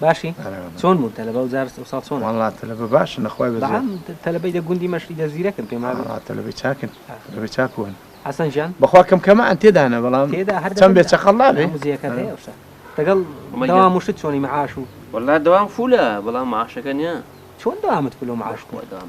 باشی چۆن بوون تەلەبە و زارست ئەوساڵ چۆن وڵات تەلەبە باشن لەخوای بە تەلەبەی دە گوندی مەشی دە زیرەکن پێم تەلەبەی چاکن تەلەبە چاکوون حسن جان بەخوا کەم کەمە ئەن تێدانە بەڵام چەند بێ چەقەڵ نابێ دەگەڵ داوام وشت چۆنی معاش و وەلا داوام فولە بەڵام معاشەکە نیە چۆن دامت پلۆ معاش دام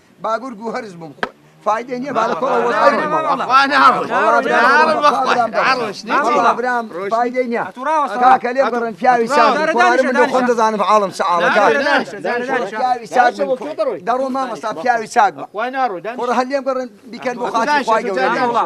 باگور گو هەرس بم خۆت فایدە نیە با لە کۆڵە وەرئەوێ فایدەی نیە کاکە لێ بڕن پیاوی ساز من خۆم دەزانم عاڵم سەعاڵە دەڕۆ مامەستا پیاوی چاک بە خۆڕ هەر لێم بڕن بیکەن بۆ خاتی خۆی گەورە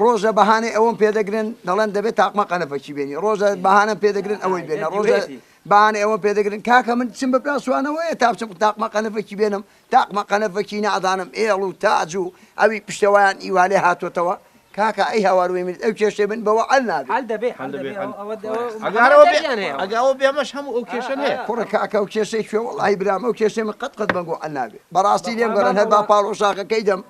ڕۆژە بەهانەی ئەوەم پێ دەگرن دەڵێن دەبێت تاقمە قەنەفەکی بێنی ڕۆژە بەهانەم پێ دەگرن ئەوەی بێنە ڕۆژە بەهانەی ئەوەم پێ دەگرن کاکە من چم بە پاسوانەوەیە تا بچم تاقمە قەنەفەکی بێنم تاقمە قەنەفەکی نادانم ئێڵ و تاج و ئەوی پشتەوەیان ئیوالێ هاتوتەوە کاکە ئەی هاواروی منت ئەو کێشەی من بەوە ئەل نابێت حل دەبێت حل دەبێت ئەگەرەوە بێیان هەیە ئەگەوە بێمەش هەموو ئەو کێشە هەیە کوڕە کاکە و کێشەی کوێ وڵی برام ئەو کێشەی من قەت قەت بەنگۆ ئەل نابێت بەڕاستی لێم گەڕن هەر با پاڵ و شاخەکەی دەم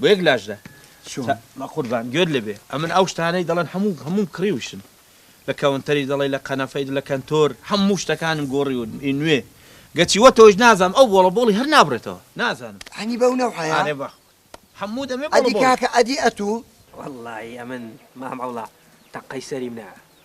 بۆ یەک لاشدا چوون بەقوربان گوێت لێبێ ئەمن ئەو شتانەی دەڵێن هەموو هەمووم کڕیوشن لە کەونتەری دەڵێی لە قەنەفەی لە کەنتۆر هەموو شتەکانم گۆڕیون ئی نوێ گەچی وە تۆش نازانم ئەو بۆڵە بۆڵی هەر نابڕێتەوە نازانم هەنی بەو نەوعەیە ئارێ بەخ هەموو دەمێ بۆڵە بۆڵ ئەدی کاکە ئەدی ئەتوو. وەڵایی ئەمن مام عەوڵا تەقەی سەری منە.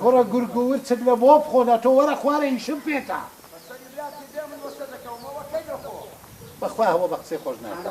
کوڕە گورگ و ورچک لە بۆ بخۆنە تۆ وەرە خوارێ ئیشم پێتە. بەخوا هەوە بە قسەی خۆش ناکا.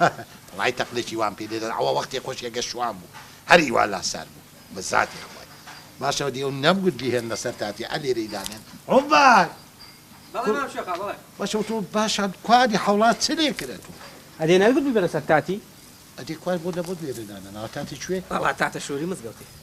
هە هە بەڵای تەقلێکی وام پێ دێت ئەوە وەختێ خۆشکێ گە شوان بوو هەر ئیوا لا سار بوو بە زاتێ خوای باشەوە دیو نەم گوت بیهێن لە سەر تاتێ ئە لێرەی دانێن عومبار بەڵێ مام شێخا بەڵێ. باشە وتۆ باشە کوا ئەدی حەوڵات چ لێ کرد ئەتۆ. ئەدێ نەت گوت بیبەرە سەر تاتی. ئەدی کوا بۆ لە بۆت لێرە دانەناوە تاتی کوێ. بەڵا تاتە شۆری مزگەوتی.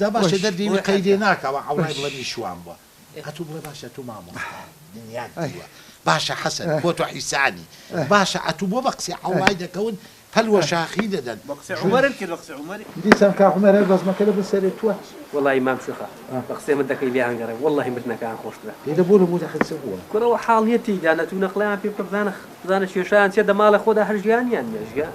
جا باشە دەردێنی قەیرێ ناکا وە عەورای بڵێ میشوان بوە ئەتو بڵێ باشە ئەتو مامۆستایە دنیات دیوە باشە حەسەن بۆ تۆ حیسانی باشە ئەتو بۆ بە قسەی عەورای دەکەون پەل وە شاخی دەدەن بە قسەی عومەرت کرد بە قسەی عومەری. دیسان کاک عومەر هەر بەزمەکە لەبن سەرێ توەک. وەڵایی مام سیخە بە قسەی من دەکەی لێیان گەڕێ وەڵاهی مردنەکەیان خۆشترە. دەی دە بۆ لە بۆ دەخەی چ بووە. کورە وە حاڵ نیە تێیدا نەچوونە قڵەیان پێ بکە بزانە بزانە کێشەیان چیە دەماڵە خۆدا هەر ژیانیان نیە ژیان.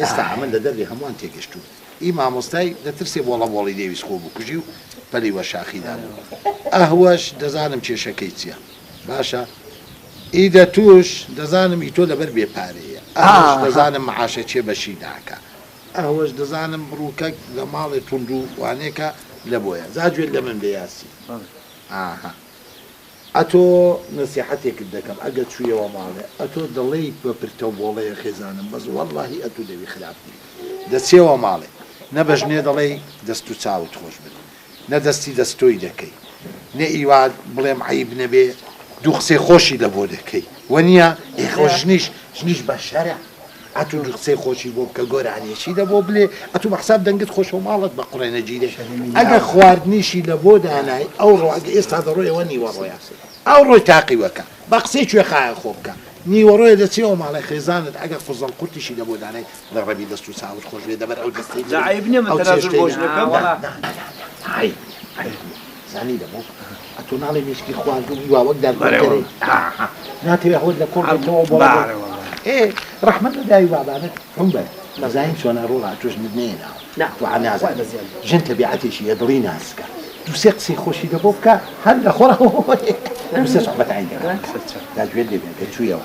ئێستا ئەمە لە دەردی هەمووان تێگەشتوو ی مامۆستای دەترسێ بۆڵە بۆڵی نەیویست خۆ بکوژی و پەلی وەرشاخی دابوو ئەهوەش دەزانم کێشەکەی چیە باشە ی دەتووش دەزانم ی تۆ لەبەر بێ پارەیە ئەهوەش دەزانم معاشە چێ بەشی ناکا ئەهوەش دەزانم بڕوکەک لە ماڵێ توندوو وانێکە لەبۆیە جا گوێت لە من بێ یاسین ئاها. ئەتۆ نەسیحەتێکت دەکەم ئەگەر چویەوە ماڵێ ئەتۆ دەڵێیت بە پرتەو بۆڵەیە خێزانم بەس وەڵاهی ئەتو لەوی خراپ نی دەچێوە ماڵێ نە بە ژنێ دەڵێی دەست و چاوت خۆش بن نە دەستی دەست تۆی دەکەی نە ئیوا بڵێم عەیب نەبێ دوو قسەی خۆشی لەبۆ دەکەی وەنیە ئێخۆ ژنیش ژنیش بە شەرع ئەتو دوو قسەی خۆشی بۆ بکە گۆرانیە چی دە بۆ بلێ ئەتو بە حساب دەنگت خۆشە و ماڵت بە قوڕێ نەگیرێ ئەگە خواردنیشی لە بۆ دانای ئەوڕۆ ئەگە ئێستا دەڕۆی ئەوە نیوەڕۆیە ئەوڕۆی تاقی وەکە بە قسەی کوێخایە خۆ بکە نیوەڕۆیە دەچێەوە ماڵێ خێزانت ئەگە فزەڵ قورتیشی لە بۆ دانای لە ڕەبی دەست و چاوت خۆش بێ دەبەر ئەو دەستەی جا عەیب نیە من تەنازول بۆش نەکەم زانی دەمۆ ئەتۆ ناڵێ مێشکی خوارد و هیوا وەک دار بەرێوە ناتەوێ هەوت لە کۆڵ بێتەوە بۆ ڕەحمەت لە داوی بابانت هەم بەر مەزاین چۆنە ڕۆڵا توش من نێنا ناتو نازان ژن تەبیعەتێکی یە دڵی ناسکە دوسێ قسەی خۆشی دە بۆ بکە هەر لە خۆڕ دوسێ سەحبەت عین داگوێت لێ بێ چوویەوە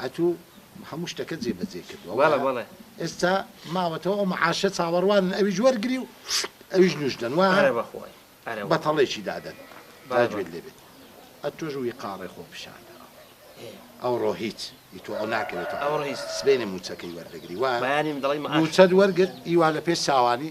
ئەتوو هەموو شتەکەت جێ بەجێ کردوە بەڵێ بەڵێ ئێستا ماوەتەوە ئەو معاشە چاوەڕوانن ئەویش وەرگری و ئەویش نوش دەن وایە ئەرە بەخوای ئەرە بەتەڵێکی دادەن با جوێت لێ بێت ئەتۆش ویقاڕێ خۆ پیشان دەرەوە ئەوڕۆ هیچ ئی تۆ ئەو ناکەوێتەوە ئەوڕۆ هیچ سبەینێ مووچەکەی وەردەگری وایە بەیانی من دەڵێی معاش مووچەت وەرگرت ئیوا لە پێش چاوانی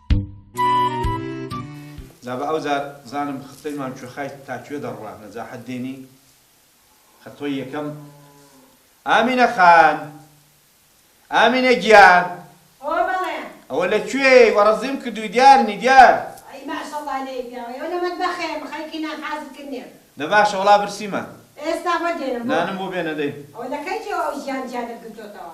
جا بە ئەو جار زانم خطۆی مام کوێخای تا کوێ دەڕوا نەجاحەت دێنی خطۆی یەکەم ئامینە خان ئامینە گیان ئۆ بەڵێ ئەوە لە کوێی وەڕەزیم کردووی دیار نی دیار ئەی ماشەڵڵا لێی پیاوە ئێوە لە مەتبەخێ خەریکی نان حازر کردنێن دە باشە وەڵا برسیمە ئێستا بۆ دێنم بۆ نانم بۆ بێنە دەی ئەوە لە کەی جێوە ئەو ژیان جیانت گرتۆتەوە.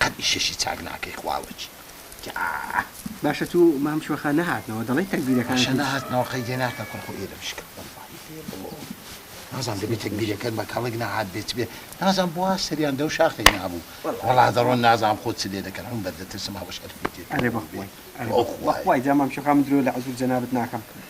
قەت ئیشەشی چاک ناکەی خوا وەکی تاا. باشە تو مام شۆخە نەهاتنەوە دەڵێی تەکبیرەکان باشە نەهاتنەوە قەیدێ ناکا کورە خۆ ئێرەم شکا وەللەهی پێ بڵۆ نازانم دەبێ تەکبیرەکەن بە کەڵک نەهات بێ چ بێ نازانم بوا سەریان دەو شاخەی نابوو وەڵا دەڕۆن نازانم خۆ چ لێ دەکەن عەمبەر دەترسم ئەوەش هەر پێ تێ ئەرێ بەخوای ئەرێ بەخوای جا مام شۆخە من درۆ لە عەزور جەنابت ناکەم.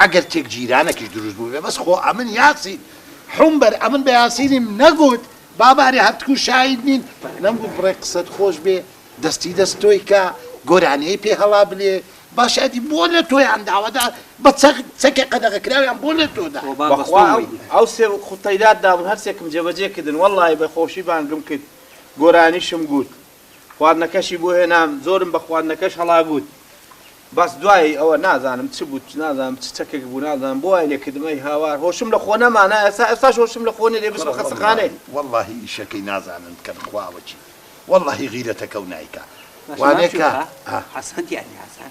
ئەگەر تێک جیرانەکیش دروست بوبێ بەس خۆ ئەمن یاسین حوم بەر ئەمن بە یاسینیم نەگوت بابارێ هەرتکو شاید نین نەم گوت بڕێ قسەت خۆش بێ دەستی دەست تۆی کا گۆرانیەی پێ هەڵا بلێ باشە ئەدی بۆ لە تۆیان داوە دا بە چەک چەکێ قەدەغە کراویان بۆ لە تۆ دا وەبا بەخوا بەستۆم وی ئەو ئەو سێ خوتەیلات دابن هەرسێکم جێبەجێ کردن وەڵاهی بە خۆشی بانگم کرد گۆرانیشم گوت خواردنەکەشی بۆ هێنام زۆرم بە خواردنەکەش هەڵاگووت بەس دوایی ئەوە نازانم چ بوو نازانم چ چەکێک بوو نازانم بۆ وای لێکردمەی هاوار هۆشم لە خۆ نەمانە ئێستا ئێستاش هۆشم لە خۆ نێ دەبستمە خەسەخانەی وەڵڵاهی ئیشەکەی نازانن کە بخواوە چی وەڵڵاهی غیرەتەکەو نایکا وانەکە حەسەن تیانی حەسەن